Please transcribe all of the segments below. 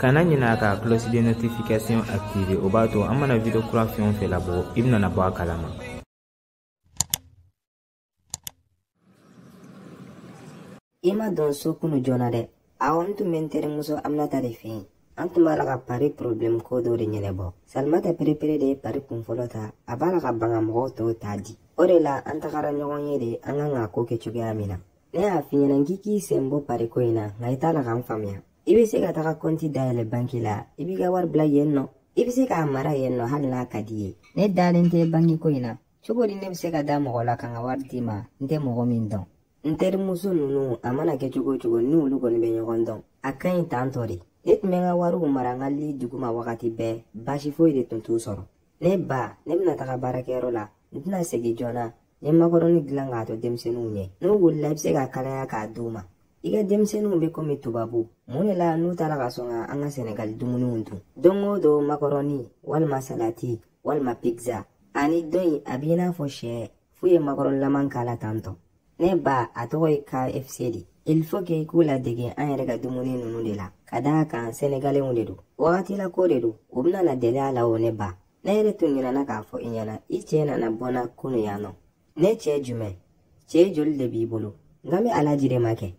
kana ɲina ka cloche de notification activer o b'a to an mana video kura fɛn o fɛn labɔ i bɛna bɔ a kalama i ma don so kunu joona dɛ awɔ n tun bɛ n terimuso aminata de fɛ yen an tun b'a la ka pari porobilɛmu ko dɔ de ɲɛnabɔ salimata perepere de ye pari kunfɔlɔ ta a b'a la ka ban ka mɔgɔw tɔw ta di o de la an tagara ɲɔgɔn ye de an kan ka ko kɛ cogoya min na ne y'a f'i ɲɛna k'i k'i sen bɔ pariko in na nka i t'a la ka n faamuya i bɛ se ka taga kɔnti dayɛlɛ banki la i b'i ka wari bila yen nɔ i bɛ se k'a mara yen nɔ hali n'a ka di i ye ne dalen tɛ banki ko in na cogo di ne bɛ se ka da mɔgɔ la ka n ka wari d'i ma n tɛ mɔgɔ min dɔn n terimuso ninnu a mana kɛ cogo o cogo ni olu kɔni bɛ ɲɔgɔn dɔn a ka ɲi tan tɔ de ne tun bɛ n ka wariw mara n ka li duguma wagati bɛɛ baasi foyi de tun t'u sɔrɔ ne ba ne bɛna taga baarakɛyɔrɔ la n tɛna segin joona N ye makɔrɔni dilan k'a to denmisɛnninw ɲɛ n'u wulila i bɛ se k'a kalaya k'a d'u ma i ka denmisɛnninw bɛ komi tubabu mun de la n'u t'a la ka sɔn ka an ka sɛnɛgali dumuniw dun don o don makɔrɔni walima salati walima pizza ani dɔ in a b'i n'a fɔ sɛ f'u ye makɔrɔnilama k'a la tan tɔ ne ba a tɔgɔ ye kfc de il faut que i k'u ladege an yɛrɛ ka dumuni ninnu de la ka d'a kan sɛnɛgalenw de don wagati la ko de don u bɛna na deli a la o ne ba ne yɛrɛ tun ɲinɛna k'a fɔ i ɲɛna i cɛ nana bɔ n na kunu yan nɔ ne cɛ jumɛn cɛ joli de b'i bolo n kan bɛ alaji de ma kɛ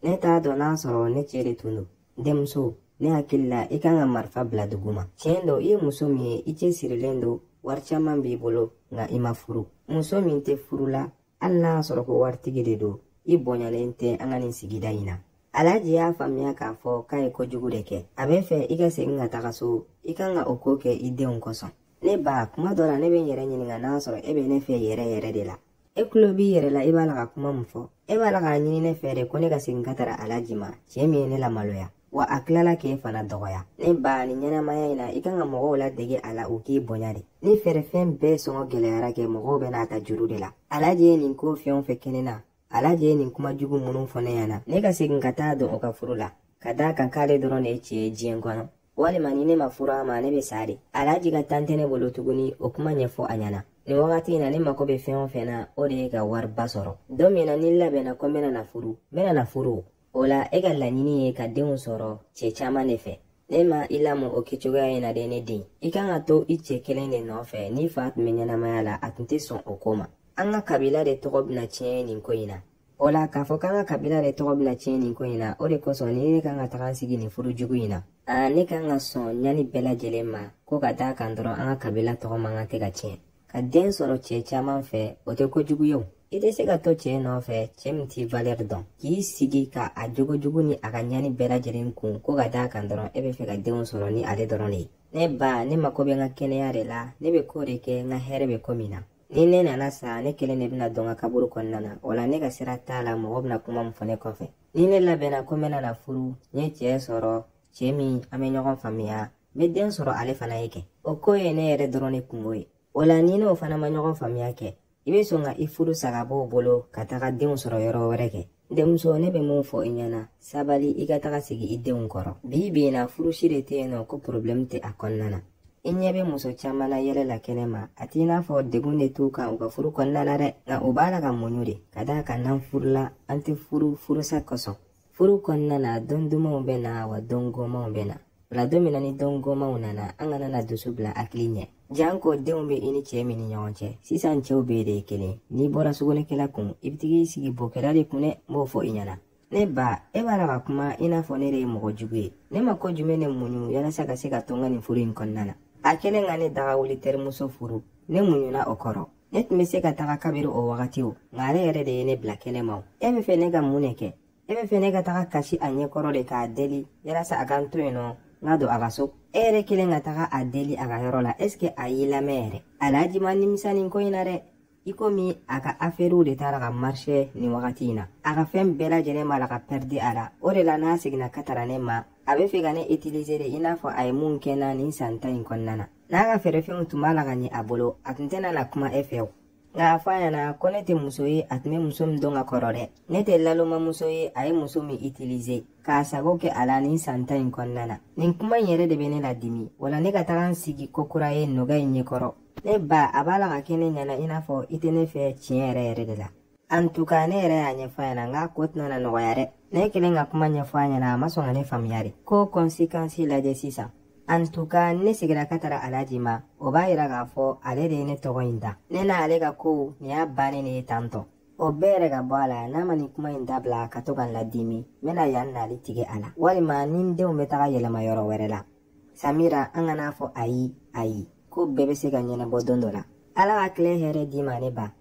ne t'a dɔn n'a sɔrɔ ne cɛ de tun don denmuso ne hakili la i kan ka marifa bila duguma tiɲɛ don i ye muso min ye i cɛsirilen don wari caman b'i bolo nka i ma furu muso min tɛ furu la hali n'a y'a sɔrɔ ko waritigi de don i bonyalen tɛ an ka nin sigida in na alaji y'a faamuya k'a fɔ k'a ye kojugu de kɛ a b'a fɛ i ka segin ka taga so i kan ka o ko kɛ i denw kosɔn ne ba kuma dɔ la ne bɛ n yɛrɛ ɲininka n'a sɔrɔ e bɛ ne fɛ yɛrɛ yɛrɛ de la e tulo b'i yɛrɛ la i b'a la ka kuma min fɔ e b'a la k'a ɲini ne fɛ de ko ne ka segin ka taga alaji ma cɛ min ye ne lamaloya wa a tilala k'e fana dɔgɔya ne ba nin ɲɛnamaya in na i kan ka mɔgɔw ladege a la u k'i bonya de ni feerefɛn bɛɛ sɔngɔ gɛlɛyara kɛ mɔgɔw bɛn'a ta juru de la alaji ye nin ko fɛn o fɛn kɛ ne na alaji ye nin kuma jugu minnu fɔ ne ɲɛna ne ka segin ka taa don o ka furu la ka d'a kan k'ale dɔrɔn de ye cɛ ye diɲɛ kɔnɔ walima ni ne ma furu a ma ne bɛ sa de alaji ka tan tɛ ne bolo tuguni o kuma ɲɛfɔ a ɲɛna nin wagati in na ne mako bɛ fɛn o fɛn na o de ye ka wariba sɔrɔ don min na ni n labɛnna ko n bɛna na furu n bɛna na furu o la e ka laɲini ye ka denw sɔrɔ cɛ caman de fɛ ne ma i lamɔ o kɛcogoya in na dɛ ne den i kan ka to i cɛ kelen de nɔfɛ n'i fa tun bɛ ɲɛnamaya la a tun tɛ sɔn o ko ma an ka kabila de tɔgɔ bɛna tiɲɛ nin ko in na o la k'a fɔ k'an ka kabila de tɔgɔ bɛna tiɲɛ nin ko in na o de kosɔn ni ne kan ka taga n sigi nin furu jugu in na aa ne kan ka sɔn ɲani bɛɛ lajɛlen ma ko ka d'a kan dɔrɔn an ka kabila tɔgɔ man kan tɛ ka tiɲɛ ka den sɔrɔ cɛɛ caaman fɛ o tɛ kojugu ye o i tɛ se ka to cɛɛ nɔfɛ cɛɛ min t'i valɛri dɔn k'i sigi ka a jogojugu ni a ka ɲani bɛɛ lajɛlen kun ko ka d'a kan dɔrɔn e be fɛ ka denw sɔrɔ ni ale dɔrɔn de ye ne ba ne mako be n ka kɛnɛya de la ne be koo de kɛ n ka hɛrɛ be ko min na ni ne nana sa ne kelen de bena don n ka kaburu kɔnɔna na o la ne ka sira t'a la mɔgɔ bena kuma min fɔ ne kɔfɛ ni ne labɛnna ko n bena na furu n ye cɛɛ sɔrɔ cɛɛ min an bɛ ɲɔgɔn faamuya n bɛ den sɔrɔ ale fana ye kɛ o ko ye ne yɛrɛ dɔrɔn ne kunko ye o la n'i n'o fana ma ɲɔgɔn faamuya kɛ i bɛ sɔn ka i furu sa ka b'o bolo ka taga denw sɔrɔ yɔrɔ wɛrɛ kɛ denmuso ne bɛ mun fɔ i ɲɛna sabali i ka taga sigi i denw kɔrɔ bi bi in na furu si de tɛ yen nɔ ko porobilɛmu tɛ a kɔnɔna na i ɲɛ bɛ muso caman na yɛlɛ la kɛnɛ ma a t'i n'a fɔ degun de t'u kan u ka furu kɔnɔna na dɛ nka u b'a la ka muɲu de ka d'a kan n'an furula an tɛ furu furusa kosɔn furu kɔnɔna na don dumanw bɛ na wa don gomanw bɛ na o la don min na ni don gomanw nana an kana na dusu bila hakili ɲɛ janko denw bɛ i ni cɛɛ min ni ɲɔgɔn cɛ sisan cɛw bɛɛ de ye kelen n'i bɔra sugunɛkɛla kun i bɛ taga i sigi bokɛla de kun dɛ n b'o fɔ i ɲɛna ne ba e b'a la ka kuma i n'a fɔ ne de ye mɔgɔ jugu ye ne ma ko jumɛn ne muɲu yalasa ka se ka to n ka nin furu in kɔnɔna na a kɛlen ka ne daga wuli terimuso furu ne muɲuna o kɔrɔ ne tun bɛ se ka taga kabiri o wagati o nka ale yɛrɛ de ye ne bila kɛnɛ ma o e bɛ fɛ ne ka mun de kɛ e bɛ fɛ ne ka taga kasi a ɲɛ kɔrɔ de k'a deli yalasa a ka n to yen nɔ n ka don a ka so e yɛrɛ kelen ka taga a deli a ka yɔrɔ la ɛseke a y'i lamɛn yɛrɛ alhaji ma nimisa nin ko in na dɛ ikomi a ka afɛriw de t'a la ka marise nin wagati in na a ka fɛn bɛɛ lajɛlen b'a la ka pɛridi a la o de la n'a seginna ka tara ne ma a bɛ fɛ ka ne itilize de i n'a fɔ a ye mun kɛ n na nin san tan in kɔnɔna na n'a ka feerefɛnw tun b'a la ka ɲɛ a bolo a tun tɛna na kuma e fɛ o nka a fɔ a ɲɛna ko ne tɛ muso ye a tun bɛ muso min dɔn ka kɔrɔ dɛ ne tɛ lalomamuso ye a ye muso min itilize k'a sago kɛ a la nin san tan in kɔnɔna na nin kuma in yɛrɛ de bɛ ne ladimi wala ne ka taga n sigi kokura ye nɔgɔ in ɲɛkɔrɔ ne ba a b'a la ka kɛ ne ɲɛna i n'a fɔ i tɛ ne fɛ tiɲɛ yɛrɛ yɛrɛ de la antuka ne yɛrɛ y'a ɲɛfɔ a ɲɛna n k'a ko tɛna na nɔgɔya dɛ ne kɛlen ka kuma ɲɛfɔ a ɲɛna a ma sɔn ka ne faamuya de ko kɔnsikansi lajɛ sisan antuka ne seginna ka tara alaji ma o b'a yira k'a fɔ ale de ye ne tɔgɔ in da ne na ale ka kow nin y'a bannen de ye tantɔ o bɛɛ yɛrɛ ka bɔ a la n'a ma nin kuma in dabila ka to ka n ladimi n bɛna yan nali tigɛ a la walima n ni n denw bɛ taga yɛlɛma yɔrɔ wɛrɛ la samira an kan'a fɔ ayi ayi ko bɛɛ bɛ se ka ɲɛnabɔ don dɔ la ala ka tilen hɛrɛ d'i ma ne ba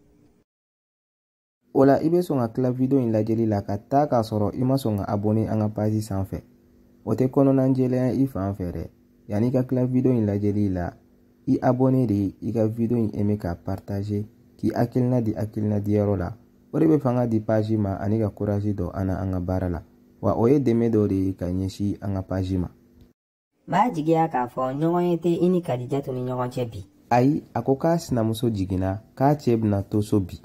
O la i bɛ sɔn ka tila video in lajɛli la ka taa k'a sɔrɔ i ma sɔn ka abonné an ka page sanfɛ. O tɛ kɔnɔnajɛlenya i fan fɛ dɛ. Yanni i ka tila video in lajɛli la, i abonné de i ka video in aimé k'a partager k'i hakilina di hakilina diyɔrɔ la. O de bɛ fanga di page ma ani ka courage don an na an ka baara la. Wa o ye dɛmɛ dɔ de ye ka ɲɛsin an ka page ma. M'a jigiya k'a fɔ ɲɔgɔnye tɛ i ni Kadijatu ni ɲɔgɔn cɛ bi. Ayi, a ko k'a sinamuso jiginna, k'a cɛ bɛna to so bi.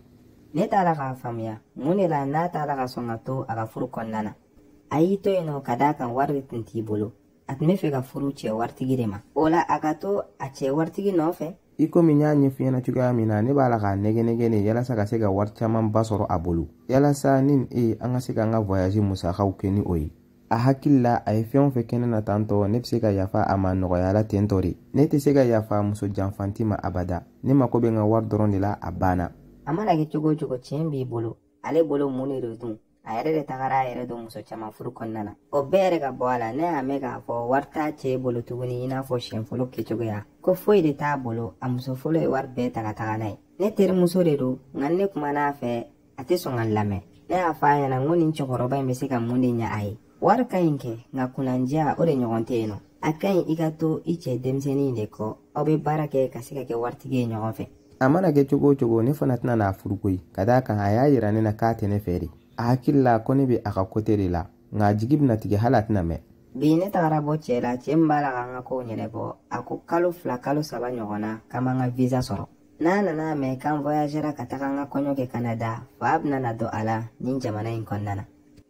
Ne t'a la k'a faamuya, mun de la n'a t'a la ka sɔn ka to a ka furu kɔnɔna na? A y'i to yen nɔ ka d'a kan wari de tun t'i bolo. A tun b'a fɛ ka furu cɛ waritigi de ma. O la a ka to a cɛ waritigi nɔfɛ. I komi n y'a ɲɛf'i ɲɛna cogoya min na, ne b'a la k'a nɛgɛnnɛgɛn de yalasa ka se ka wari camanba sɔrɔ a bolo. Yalasa ni e, an ka se k'an ka voyage musakaw kɛ ni o ye. a hakili la a ye fɛn o fɛn kɛ ne na tan tɔ ne bɛ se ka yafa a ma nɔgɔya la ten tɔ de ne tɛ se ka yafa muso janfanti ma abada ne mako bɛ n ka wari dɔrɔn de la a banna a mana kɛ cogo o cogo tiɲɛ b'i bolo ale bolo mun de don dun a yɛrɛ de tagara a yɛrɛ don muso caman furu kɔnɔna na o bɛɛ yɛrɛ ka bɔ a la ne y'a mɛn k'a fɔ wari t'a cɛ bolo tuguni i n'a fɔ siɲɛ fɔlɔ kɛcogoya ko foyi de t'a bolo a muso fɔlɔ ye wari bɛɛ ta ka taga n'a ye ne terimuso de don nka ne kumana a fɛ a tɛ sɔn ka n lamɛn ne y'a fɔ a ɲɛna n ko nin cɛkɔrɔba in bɛ se ka mun de ɲɛ a ye wari ka ɲi kɛ nka kunnandiya o de ɲɔgɔn tɛ yen nɔ a ka ɲi i ka to i cɛ denmisɛnnin de kɔ aw bɛ baara kɛ ka se ka kɛ waritigi ye ɲɔgɔn fɛ a mana kɛ cogo o cogo ne fana tɛna n'a furu koyi ka d'a kan a y'a yira ne na k'a tɛ ne fɛ de a hakili la ko ne bɛ a ka kote de la nka a jigi bɛna tigɛ hali a tɛna mɛn bi ne tagara bɔ cɛ la cɛ min b'a la ka n ka kow ɲɛnabɔ a ko kalo fila kalo saba ɲɔgɔn na k'an b'an ka visa sɔrɔ n'a nana a mɛn k'an voyagera ka taga an ka kɔɲɔ kɛ kanada fa bɛna na don a la nin jamana in kɔnɔna na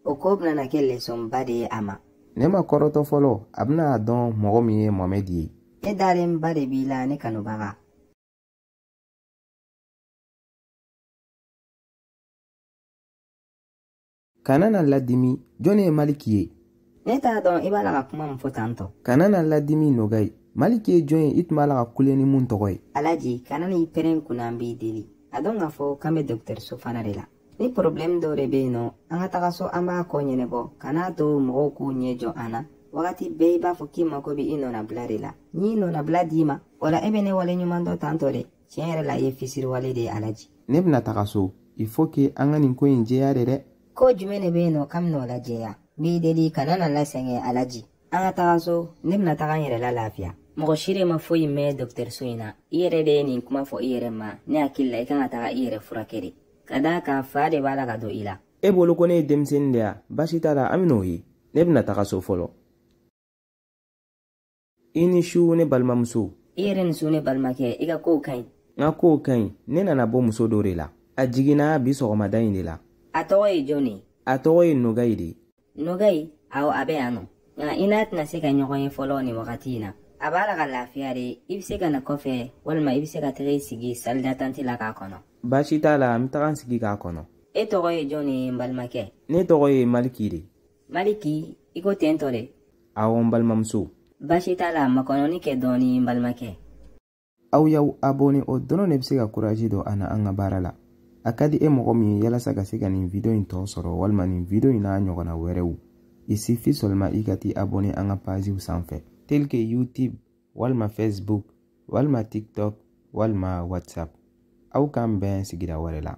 o ko bɛna na kɛ lesɔnba de ye a ma ne ma kɔrɔtɔ fɔlɔ a bɛna a dɔn mɔgɔ min ye mohamɛdi ye ne dalenba de b'i la ne kanubaga Kana na n ladimi, jɔni ye Maliki ye? Ne t'a dɔn i b'a la ka kuma min fɔ tan tɔ. Kana na n ladimi Nogay. Maliki ye jɔn ye i tun b'a la ka kule ni min tɔgɔ ye? Alaji, kana n'i pɛrɛn n kunna n b'i deli. A dɔn k'a fɔ k'an bɛ dɔgɔtɔrɔso fana de la. Ni problɛmu dɔ de bɛ yen nɔ, an ka taga so an b'a ko ɲɛnabɔ, kan'a to mɔgɔw k'u ɲɛ jɔ an na. Wagati bɛɛ i b'a fɔ k'i mako bɛ i nɔnabila de la. N'i nɔnabila d'i ma, o la e bɛ ne wale ɲuman dɔn tan tɔ de. tiɲɛ yɛrɛ la i ye fisiriwale de ye alaji ne bɛna taga so il faut que an ka nin ko in jɛya de dɛ ko jumɛn de bɛ yen nɔ k'an bɛn'o lajɛya n b'i deli kana na n lasɛgɛn alaji an ka taga so ne bɛna taga n yɛrɛ lalafiya mɔgɔ si de ma foyi mɛn dɔgɔtɔrɔso in na i yɛrɛ de ye nin kuma fɔ i yɛrɛ ma ne hakili la i ka kan ka taga i yɛrɛ furakɛ de ka d'a kan fa de b'a la ka don i la e bolo ko ne ye denmisɛnnin de ya baasi t'a la an bɛn'o ye ne bɛna taga so fɔlɔ i ni su ne balimamuso i yɛrɛ ni su ne balimakɛ i ka kow ka ɲi n ka kow ka ɲi ne nana bɔ muso dɔ de la a jiginna bi sɔgɔmada in de la a tɔgɔ ye jɔn ye a tɔgɔ ye nogayi de nogayi awo a bɛ yan nɔ nka i n'a tɛna se ka ɲɔgɔn ye fɔlɔ nin wagati in na a b'a la ka lafiya de i bɛ se ka na kɔfɛ walima i bɛ se ka taga i sigi salidatanti la k'a kɔnɔ baasi t'a la n bɛ taga n sigi k'a kɔnɔ e tɔgɔ ye jɔn ye n balimakɛ ne tɔgɔ ye maliki de maliki i ko ten tɔ de awɔ n balimamuso baasi t'a la makɔnɔni kɛ dɔɔni n balimakɛ aw y'aw abone o dɔrɔn de bɛ se ka kurazi don an na an ka baara la a ka di e mɔgɔ min ye yalasa ka se ka nin video in tɔ sɔrɔ walima nin video in n'a ɲɔgɔnna wɛrɛw il suffit seulement i ka t'i abone an ka paziw sanfɛ tel que youtube walima facebook walima tiktok walima whatsapp aw k'an bɛn sigira wɛrɛ la